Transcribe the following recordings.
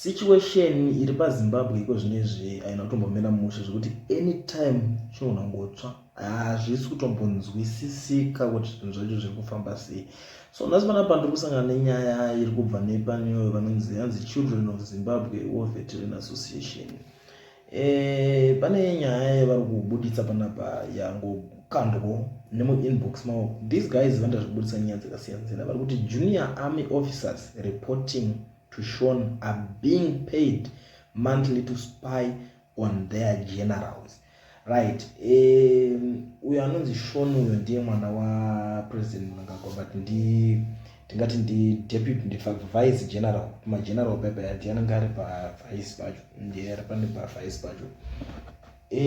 Situation iri paZimbabwe iko zvinezvi haina kutombomira mushe zvekuti anytime chinogona kungotsva hazvisi kutombonzwisisika kuti zvinhu zvacho zviri kufamba sei so nhasi pana pano tiri kusangana nenyaya iri kubva nepaniyoyo vanonzi yanzi children of zimbabwe warfare train association Eh, pane nyaya yevari kubuditsa panapa yangokandwo nemuinbox mavo these guys vanoita zvekubuditsa nyaya dzakasiyana siyana vari kuti junior army officers reporting to shon are being paid monthly to spy on their generals right uyo anonzi shon uyo ndiye mwana wapresident mnangagwa but ndi tingati ndideputy ndivice general mageneral bebe ati anenge ari pavice pacho ndiye ari pane pavice pacho e,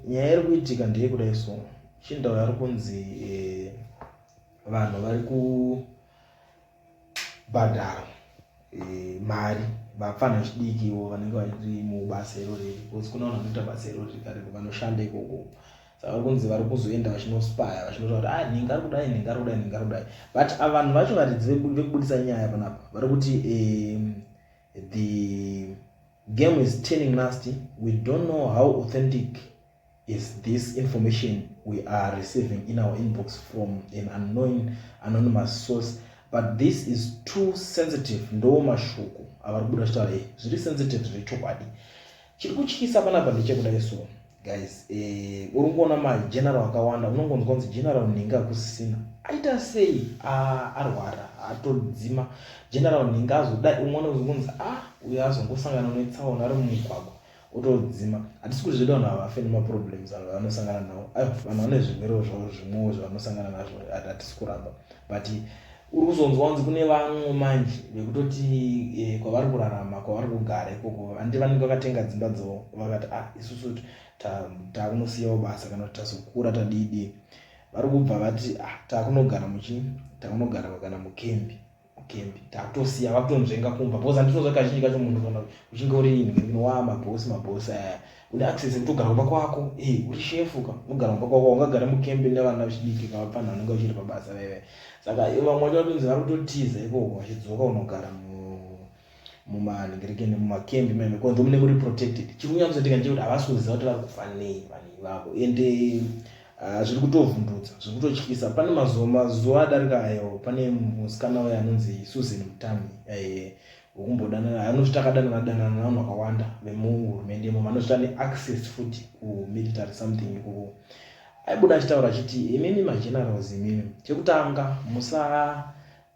nyaya iri kuitika ndeye kudai so chindau ari kunzi e, vanhu vari kubhadhara e, mari vapfana vechidiki ivo vanenge vari mubasa irori because kune vanhu vanoita basa irori kareko vanoshanda ikoko saka vari kunzi vari kuzoenda vachinospaya vachinotaura kuti ah nhinga ari kudai nhinga ari kudai nhinga ari kudai but ah, vanhu vacho varidzi vekubudisa nyaya panapa vari kuti um, the game is turning nasty we don't know how authentic is this information we are receiving in our inbox from an unknown anonymous source but this is too sensitive ndo mashoko avari kubuda chitaura e zviri sensitive zviri chokwadi chiri kutyisa panapa ndechekudai so guys eh, uri kuona mageneral akawanda unongonzwa kunzi general nhinga akusisina aita sei ah, arwara atodzima general nhinga azodai umwe unonzi kunzi a ah, uyo azongosangana netsaona ari mumugwagwa otodzima hatisi kuti zveda vanhu havafe nemaproblems avo vanosangana nawo aiwa vanhu vane zvirwere zvavo zvimwewo zvavanosangana nazvo hatisi kuramba but uri kuzonzwa kunzi kune vamwe manje vekutoti eh, kwavari kurarama kwavari kugara ikoko handi vanenge vakatenga dzimba dzavo vakati ah isusu takunosiyawo basa kana kuti tasokura tadiidii vari kubva vati ah takunogara muchii takunogara kana mukembi kukembi tatosiya vakutonzvenga kumba bcause andinozva kazhinji kacho munhu kana uchinge uri inhimino wa mabhosi mabhosi aya une access kutogara kumba kwako e uri shefu ka unogara kumba kwako ungagara mukembi nevana vechidiki ka vapfanhu vanenge vachiri pabasa veve saka vamwe vacho vatonzi vari kutotiza ikoko vachidzoka unogara mu mumanhingirike nemumakembi meme konzo mune muri protected chiri kunyatsoitika ndechekuti havasi kuziva kuti vari kufa nei vanhu ivavo ende ah, zviri kutovhundutsa zviri kutotyisa pane mazuva mazuva adarika ayo pane musikana waye anonzi susan mutami eh, wekumbodanana anoti takadanana danana navanhu vakawanda vemuhurumende imo vanoti tane access futi kumilitary something ikoko aibuda achitaura achiti imimi magenerals imimi chekutanga musaa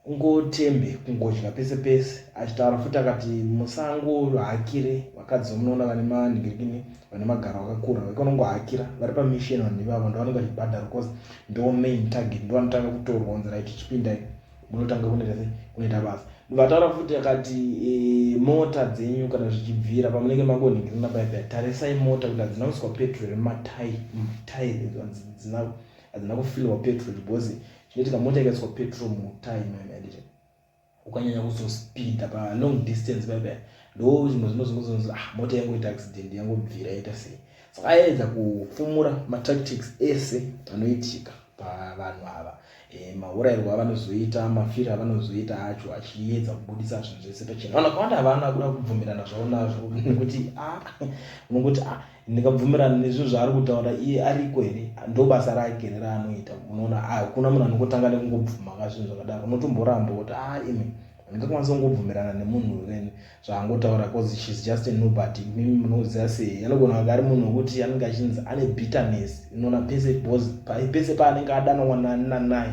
kungotembe kungodya pese pese achitaura futi akati musangohakire vakadzi vamunoona vane manhingirikini vane magaro akakura vekonongohakira vari pamisheni vanhu ivavo ndovanenge vachibhadhara bcause ndo main target ndovanotanga kutorwa kunzi rit chipindai munotanga kunerese kunoita basa vataura futi akati e, mota dzenyu kana zvichibvira pamunenge mangonhingirina paipa tarisai mota kuti hadzina kuiswa petrol rematai matai hadzina kufilwa petrol because Zvinoitika mota ikaiswa petrol mutire imoyo maendete ukanyanya kuzospinda palong distance bebe ndo zvimwe zvino zvinozonzi ah mota yangoita accident yangobvira yaita sei saka aedza kufumura matactics ese anoitika pavanhu ava e, eh, maurayirwo avanozoita mafiro avanozoita acho achiedza kubudisa zvinhu zvese pachena vanhu vakawanda havana kuda kubvumirana zvavo nazvo nekuti ah, unongoti ah, ndingabvumirana nezvinhu zvaari kutaura iye ariko here ndobasa rake here raanoita unoona ah, hakuna munhu anongotanga nekungobvuma ka zvinhu zvakadaro unotomboramba kuti a ah, imi handingakwanisa kungobvumirana nemunhu wevene zvaangotaura bcause shes just a nobody mimi munoziva sei anogona kunge ari munhu wekuti anenge achinzi ane bitterness unoona pese pese paanenge adanwa nanani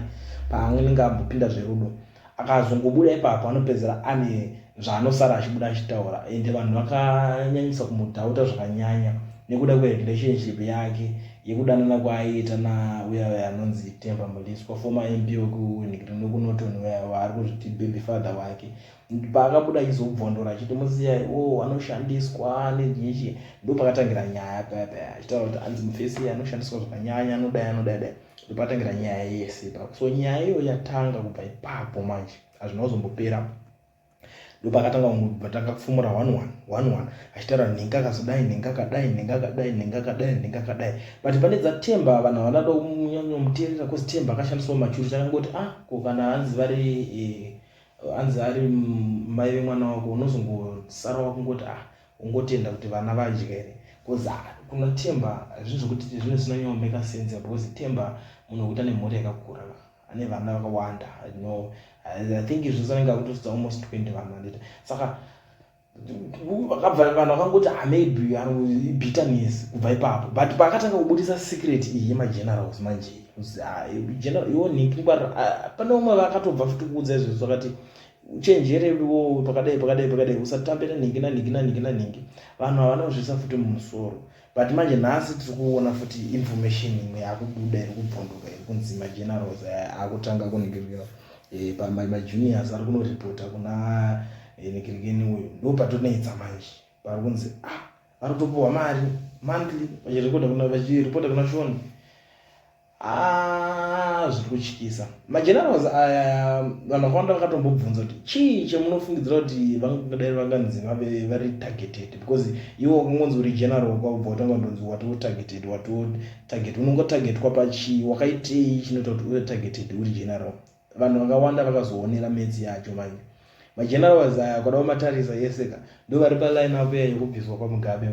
paanenge ambopinda zverudo akazongobuda ipapo anopedzera ane zvaanosara achibuda achitaura ende vanhu vakanyanyisa kumudhauta zvakanyanya nekuda kwerelationship yake yekudanana kwaaiita nauya uya anonzi temba muliswa foma mp wekunikirinokunoton uya waari kuzviti baby father wake paakabuda achizobvondora achiti musiyai o oh, anoshandiswa nejechi ndopakatangira nyaya paya paya achitaura kuti anzi mufesi anoshandiswa zvakanyanya anodai anodai dai ndopatangira nyaya yese ipapo so nyaya iyo yatanga kubva ipapo manje hazvina kuzombopera ndopakatanga vatanga kufumura one one one one achitaura nhenga kazodai nhenga kadai nhenga kadai nhenga kadai nhenga kadai but pane dzatemba vanhu havana da kunyanyomuteerera kozi temba akashandiswa machuri chakangoti ah ko kana hanzi vari eh, hanzi ari mai vemwana wako unozongosara wakungoti ah Ungotenda kuti vana vadyere cause kuna Themba hazvii zvekuti zvine zvinonyanyo maker sense because Themba munhu wekuti ane mhuri yakakura ane vana vakawanda I know I think izvi zvese anenge akutosudza almost 20 vanhu handiti saka vakabva vanhu vakangoti ah, maybe bitterness kubva ipapo but paakatanga kubudisa secret iyi yemagenerals manje ah, iwo nhiki ngwara ah, pane umwe vakatobva futi kuudza izvezvo vakati uchenjere wo pakadai pakadai pakadai usatambe nanhingi nanhingi nanhingi nanhingi vanhu havana kuzviisa futi mumusoro but manje nhasi tiri kuona futi information imwe yakubuda iri kubvunduka iri kunzi magenerals akutanga kunigirira eh, pamajuniors ari kunoripota kuna eh, nikirikeni uyu ndo patonetsa manje pari kunzi ah ari kutopiwa mari monthly vachiripota kuna vachiripota kuna shoni Haa ah, zviri kutyisa magenerals aya vanhu vakawanda vakatombobvunza kuti chii chemunofungidzira kuti vangadai vanganzi vave vari targeted because iwo wakangonzi uri general kwakubva watanga kundonzi watiwo targeted watiwo target unongotargetwa pachii wakaitei chinoita kuti uve targeted uri general vanhu vakawanda vakazoonera match yacho manje magenerals aya kwada kumatarisa yese ka ndo vari paline up ya yekubviswa kwamugabe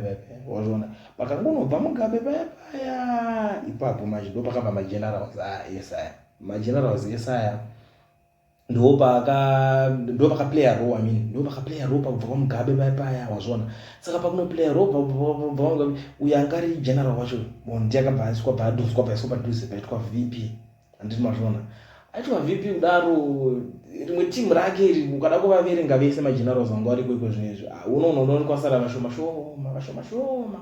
wazviona pakangonobva mugabe paya paya ipapo manje ndo pakabva magenerals aya yese aya magenerals yese aya ndo paka ndo paka player ro i mean ndo paka player ro pakubva kwamugabe paya paya wazviona saka pakuno player ro uyo angari general wacho bon ndiyakabva aiswa bhaduswa paiswa padhuze paitwa vp handiti mazviona aitwa vp kudaro rimwe team rake iri ukada kuvaverenga vese magenerals vanga variko iko zvinhu izvi ah, unoona unoona kwasara vashoma shoma vashoma shoma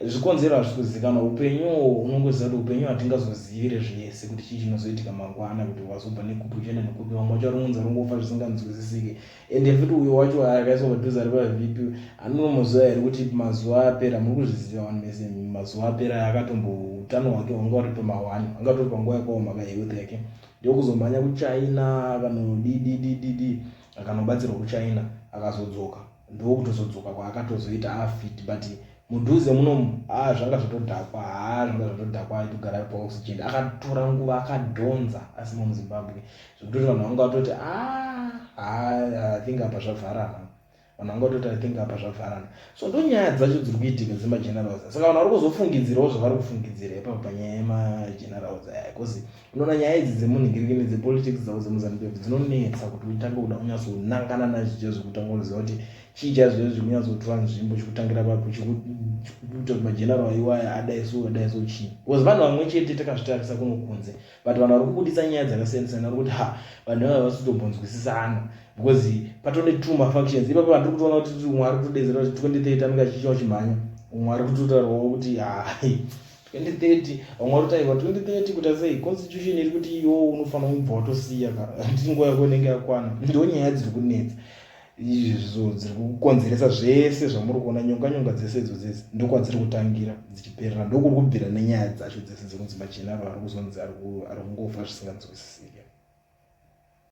zvikonzero hazvisi kuzivikanwa upenyu unongoziva kuti upenyu hatingazozivire zvese kuti chii chinozoitika mangwana kuti wazobva nekupi uchienda nekupi vamwe vacharongonza rongofa zvisinganzwisisike ende futi uyo wacho akaiswa padhuze ari pavp anonomoziva here kuti mazuva apera muri kuzviziva vanhu mese mazuva apera akatombo utano hwake hwanga uri pamawani anga tori panguva yakaoma ka health yake ndokuzomhanya kuchina akanodididididi akanobatsirwa kuchina akazodzoka ndokutozodzoka kwaakatozoita afit but mudhuze munomu a ah, zvanga zvatodhakwa haa ah, zvanga zvatodhakwa aitogara paoxygen akatora nguva akadhonza asimo muzimbabwe zvekutoti vanhu vanga vatoti ah, ah, i think apa zvavharana vanhu vanga vatoti i think apa zvavharana so ndo nyaya dzacho dziri kuitika dzemagenerals saka vanhu vari kuzofungidzirawo zvavari kufungidzira ipapa panyaya yemagenerals aya bcause unoona nyaya idzi dzemunhingiriki nedzepolitics dzavo dzemuzanupf dzinonetsa kuti utange kuda kunyatsonangana nazvicha zvekutanga unoziva kuti chii chazviya zviri kunyatsotora nzvimbo chikutangira papi chikuita kuti mageneral iwaya adai so adai so chii bcause vanhu vamwe chete takazvitarisa kunokunze but vanhu vari kubudisa nyaya dzakasiyanasiyana vari kuti ha vanhu vava vasitombonzwisisana because patone two mafactions ipapo vandiri kutoona kuti umwe ari kutodedzera kuti twenty thirty anenge achichiwa chimhanya umwe ari kutotaurwawo kuti hai twenty thirty vamwe vari kutaiwa twenty thirty kuita sei constitution iri kuti iyo unofanira kubva watosiya ka handiti nguva yako inenge yakwana ndo nyaya dziri kunetsa izvo dziri kukonzeresa zvese zvamuri kuona nyonganyonga dzese idzo dzese ndokwadziri kutangira dzichiperera ndokuri kubvira nenyaya dzacho dzese dzekunzi machinaro ari kuzonzi ari kungofa zvisinganzwisisike